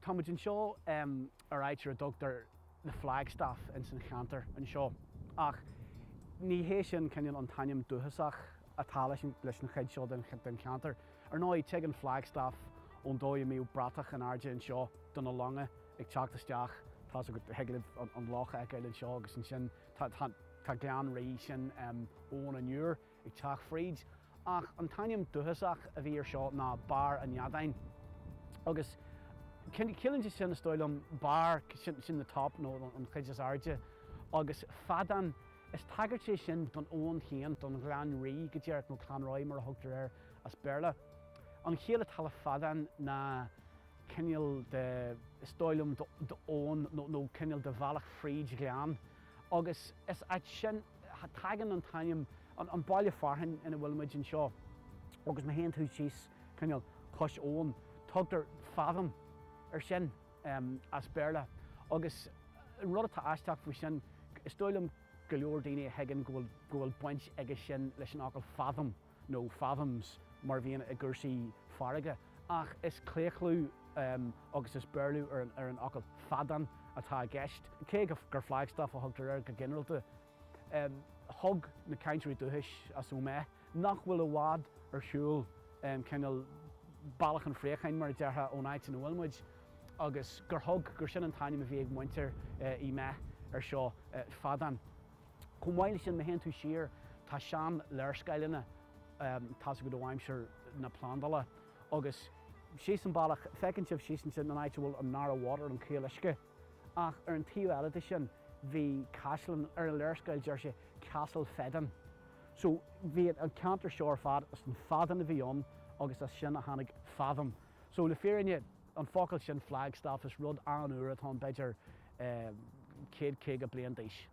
Táimid anseo ar áit ar a dtugtar The Flagstaff ins an cheantar anseo ach ní hé sin cineál an t-ainm dúchasach atá leis an chuid seo den cheantar. Ar ndóigh, tig an Flagstaff ón dóigh a mbíodh bratach in airde anseo do na longa ag teacht isteach, tá's agat, thig libh an loch a fheiceáil anseo agus ansin tá Gleann Rí, sin Abhainn an Iúir. ag teacht fríd, ach an t-ainm dúchasach a bhí air seo ná Barr an Fheadáin. Agus ciallaíonn sé sin, is dóigh liom, barr, sin the top nó an chuid is airde, agus feadán, is tagairt é sin don abhainn féin, don Ghleann Rí, go díreach, nó Clanrye mar a thugtar air as Béarla. An chiall atá le feadán ná cineál de, is dóigh liom, d'abhainn nó cineál de bhealach fríd ghleann agus is as sin a tagann an t-ainm an baile fearthainn ina bhfuil muid anseo agus ma théann tú síos cineál cois abhann tugtar fathom ar sin as béarla agus an rud atá aisteach faoi sin is dóigh liom go leor daoine a thuigeann go bhfuil baint aige sin leis an fhocal fathom. nó fathoms mar a bhíonn i gcúrsaí farraige, ach is claochlú agus is Béarlú ar an fhocal feadán atá i gceist, cé gur flagstaff a thugtar air go ginearalta. Thug na cainteoirí dúchais as Óméith, nach bhfuil i bhfad ar shiúl cineál bealach an phréacháin, mar a déarfá, ón áit ina bhfuil muid, agus gur thug, gur sin an t-ainm a bhí ag muintir Uí Méith air seo, feadán. Chomh maith leis sin, má théann tú siar, tá sean léarscáileanna tá's agat ó aimsir na plandála agus. síos an bealach, feiceann sibh síos ansin an áit a bhfuil an Narrow Water, an Caol Uisce. Ach ar an taobh eile de sin bhí caisleán, ar an léarscáil deir sé Castle Fedan. So bhí an ceantar seo ar fad, is an feadán a bhí ann agus as sin a tháinig Fathom. So le fírinne an focal sin Flagstaff is rud an-úr atá ann b'fhéidir céad caoga bliain d'aois.